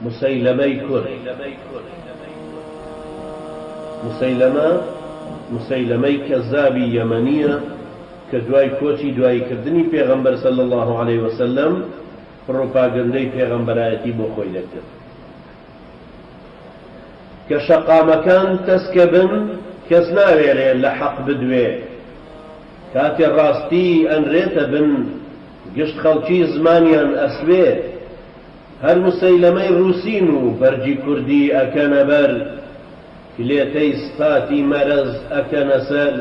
موسەیلەمەی کوڕ موسەیلەمە، موسەیلەمەی کەزابی یەمەنییە کە دوای کۆچی دواییکردنی پێغەمبەر صلی اللە علیە وسلم پڕوپاگەندەی پێغەمبەرایەتی بۆ خۆی دەکرد کە شەقامەکان تەسکە بن کەس ناوێرێ لە حەق بدوێ کاتێ ڕاستی ئەنرێتە بن گشت خەڵکی زمانیان ئەسوێ هەر مسەیلەمەی ڕوسین و بەرگی کوردی ئەکەنە بەر کلێتەی سفاتی مەرەز ئەکەنە سەر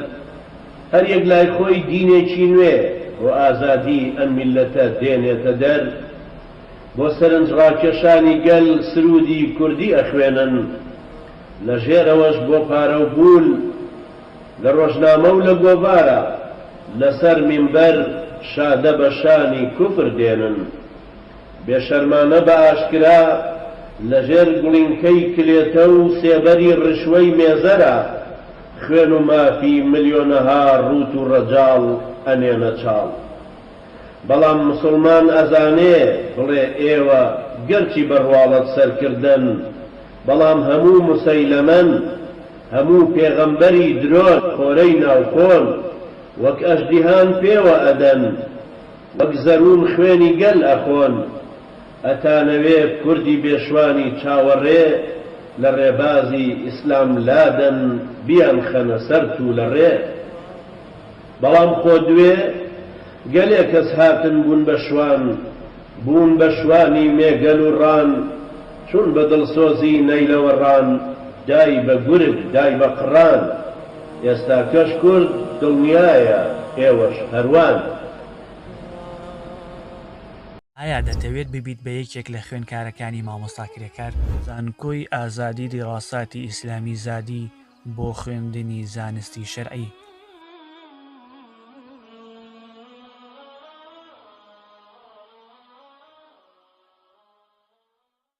هەر یەک لای خۆی دینێکی نوێ بۆ ئازادی ئەم میلەتە دێنێتە دەر بۆ سەرنج ڕاکێشانی گەل سرودی کوردی ئەخوێنن لە ژێرەوەش بۆ پارەو بول لە ڕۆژنامە و لە گۆڤارا لە سەر مینبەر شادە بە شانی کوفر دێنن بێ شەرمانە بە ئاشکرا لە ژێر گوڵینکەی کلێتە و سێبەری ڕشوەی مێزەرا خوێن و مافی ملیۆنەها ڕووت و ڕەجاڵ ئەنێنە چاڵ بەڵام مسوڵمان ئەزانێ بڵێ ئێوە گەرچی بە ڕواڵەت سەرکردەن بەڵام هەموو موسەیلەمەن هەموو پێغەمبەری درۆن خۆرەی ناو کۆن وەک ئەژدیهان پێوە ئەدەن وەک زەروون خوێنی گەل ئەخۆن ئەتانەوێ کوردی بێشوانی چاوەڕێ لە ڕێبازی ئیسلام لادەن بیان خەنە سەر تولەڕێ بەڵام خۆ دوێ گەلێ کەس هاتن بوون بە شوان بوون بە شوانی مێگەل و ڕان چوون بە دڵسۆزی نەیلەوە ڕان دای بە گورگ دای بە قڕان ئێستاکەش کورد دڵنیایە ئێوەش هەروان. ئایا دەتەوێت ببیت بە یەکێک لە خوێنکارەکانی مامۆستا کرێکار؟ زانکۆی ئازادی دیڕاساتی ئیسلامی زادی بۆ خوێندنی زانستی شەرعی.